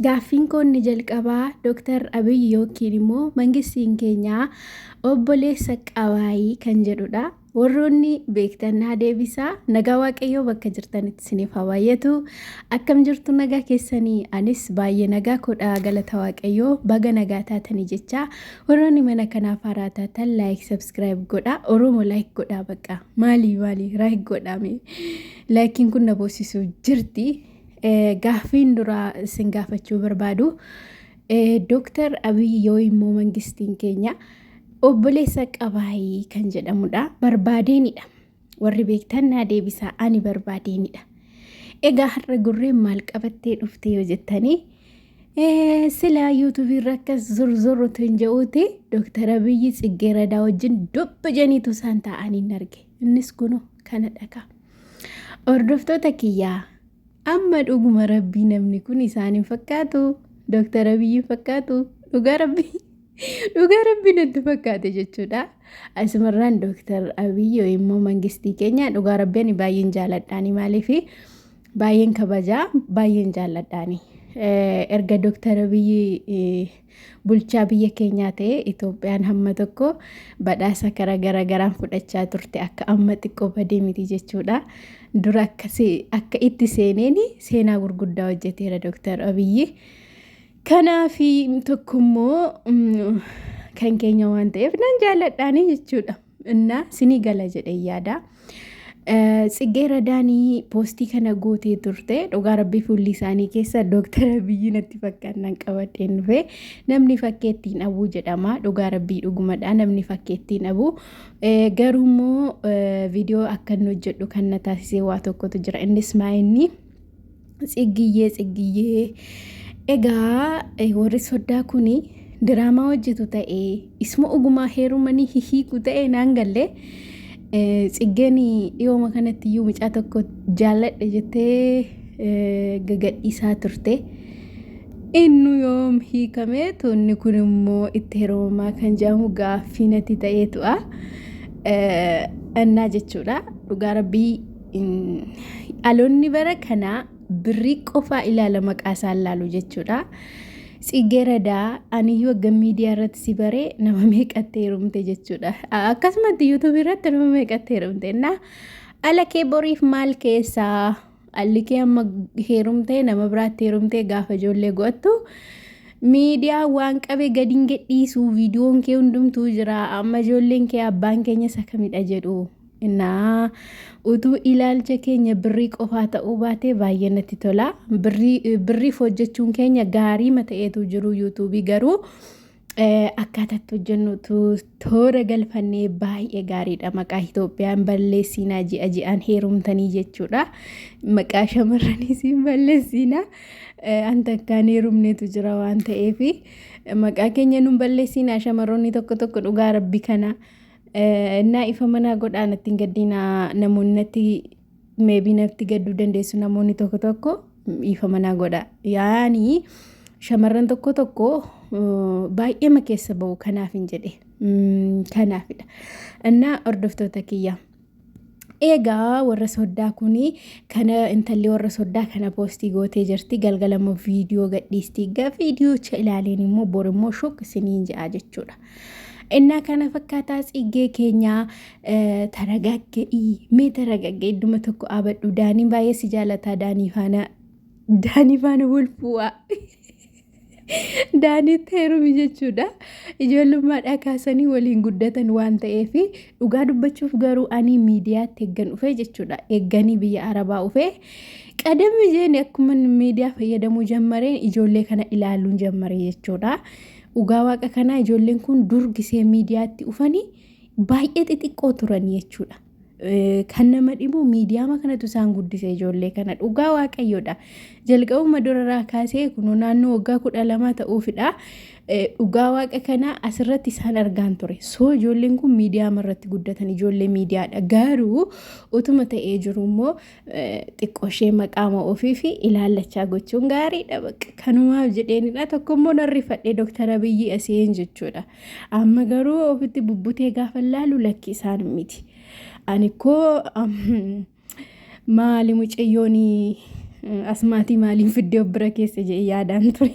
Gaaffiinkoo inni jalqabaa Dr. Abiy yookiin immoo mangistiin keenya obboleessa qabaayii kan jedhudha. Warroonni beektan naa deebisaa. Nagaa Waaqayyoo bakka jirtanitti isiniif haa baay'atu. Akkam jirtu nagaa keessanii? Anis baay'ee nagaa koodha galata Waaqayyoo baga nagaa taatanii jecha. Warroonni mana kanaaf haaraa taatan laayik sabskiraayib godha. Oromoo laayik godhaa baqa. Maalii maalii laayik godhaame. Laayikiin kun na boosisuu jirti. Gaaffiin duraa isin gaafachuu barbaadu Dooktar Abiy yoo immoo mangistiin keenya obboleessa qabaayii kan jedhamudha. Barbaadeenidha. Warri beektan naa deebisaa ani barbaadeenidha. Egaa har'a gurreen maal qabattee dhufte yoo jettanii silaa yuutuubii irra akkas zurzurrutu hin je'uuti Dooktar Abiyyi Tsiggeeradaa wajjin dubba janiitu isaan taa'anii hin arge. Innis kunoo kana dhagaa. Hordoftoota kiyyaa amma dhuguma rabbii namni kun isaan hin fakkaatu dooktar abiyyi hin fakkaatu dhugaa rabbii dhugaa rabbii natti fakkaate jechuudha. Asumarraan dooktar abiyyi yoo immoo mangistii keenya dhugaa rabbii ani baay'een jaaladhaani maaliif baay'een kabajaa baay'een jaaladhaani erga dooktar abiyyi. bulchaa biyya keenyaa ta'e Itoophiyaan hamma tokko badhaasa kara gara garaan fudhachaa turte akka amma xiqqoo badee miti jechuudha. Dura akka itti seeneen seenaa gurguddaa hojjeteera Dooktar Abiyyi. Kanaaf tokkommoo kan keenya waan ta'eef nan jaalladhaanii jechuudha. Innaa sinii gala jedhee yaada. Tsiggee Radaanii poostii kana gootee turte dhugaa rabbii fuulli isaanii keessa dooktara biyyi natti fakkaannaan qabadheen dhufe namni fakkeettiin abuu jedhama dhugaa rabbii dhugumadha namni fakkeettiin abuu garuu immoo viidiyoo akka inni hojjedhu kan na taasisee waa tokkotu jira innis maa inni Tsiggiyyee Tsiggiyyee egaa eh, warri soddaa kuni diraamaa hojjetu ta'e isuma ogumaa heerumanii hihiiku ta'e naan galle eh, tsiggeen dhiyooma kanatti iyyuu mucaa tokko jaalladhe jettee eh, gagadhiisaa turte. Innu yoom hiikamee tuunni kun immoo itti heerumamaa kan jedhamu gaaffii natti ta'ee tu'a. Eh, Annaa jechuudha dhugaa rabbii Dhaloonni bara kanaa birrii qofaa ilaala maqaa isaan laalu jechuudha. Tsiggee Radaa aniyyuu akka miidiyaa irratti si bare nama meeqatti heerumte jechuudha. Akkasumatti yuutuubii irratti nama meeqatti heerumte na ala kee boriif maal keessaa alli kee amma heerumtee nama biraatti heerumtee gaafa ijoollee go'attu miidiyaa waan qabe gadi hin gadhiisu viidiyoon kee hundumtuu jira amma ijoolleen kee abbaan keenya isa kamidha jedhu Naa utuu ilaalcha keenya birrii qofaa ta'uu baatee baay'ee natti tola. Birrii birriif hojjechuun keenya gaariima ta'eetu jiru yuutuubii garuu eh, akkaataa itti hojjennutu toora galfannee baay'ee gaariidha. Maqaa Itoophiyaan balleessiinaa ji'a ji'aan heerumtanii jechuudha. Maqaa shamarraniis hin balleessiinaa. Eh, An takkaan heerumneetu jira waan ta'eefi maqaa keenya nun balleessiinaa shamarroonni tokko tokko dhugaa rabbi kana. Innaa ifa manaa godhaa natti hin gaddiinaa namoonni natti meebii natti gadduu dandeessu namoonni tokko tokko ifa manaa godha. Yaani shamarran tokko tokko baay'eema keessa ba'u kanaaf hin jedhe kanaafidha. Innaa hordoftoota kiyya. Eegaa warra soddaa kun kana intalli warra soddaa kana poostii gootee jirti galgala immoo viidiyoo gadhiisti egaa viidiyoocha ilaaleen immoo bor immoo shok isiniin ja'a jechuudha. Innaa kana fakkaataa tsiggee keenyaa taragagga'ii mee taragagga idduma tokko abadhu daaniin baay'ee si jaalataa daanii faana daanii faana wal fu'aa. Daaniitti heerumi jechuudha. Ijoollummaadhaa kaasanii waliin guddatan waan ta'eef dhugaa dubbachuuf garuu ani miidiyaatti eeggan dhufee jechuudha. Eegganii biyya Arabaa dhufee qadamni jeen akkuma miidiyaa fayyadamuu jammareen ijoollee kana ilaaluun jammare jechuudha. Dhugaa waaqa kanaa ijoolleen kun dur gisee miidiyaatti dhufanii baay'ee xixiqqoo turan jechuudha. Kan nama dhibu miidiyaama kanatu isaan guddise ijoollee kana dhugaa waaqayyoodha. Jalqabuma duraraa kaasee kunoo naannoo waggaa kudha lamaa ta'uufidha. Dhugaa waaqa kana asirratti isaan argaan ture. Soo ijoolleen kun miidiyaama irratti guddatan ijoollee miidiyaadha. Garuu utuma ta'ee jiru immoo xiqqooshee maqaama ofii fi ilaallachaa gochuun gaariidha. Bakka kanumaaf jedheenidha. Tokko immoo narrifadhee Dooktar Abiyyi Asiyeen jechuudha. Amma garuu ofitti bubbutee gaafa laalu lakki isaan miti. Ani koo maali mucayyoon asmaatii maaliin fiddee of bira keessa jedhee yaadaan ture.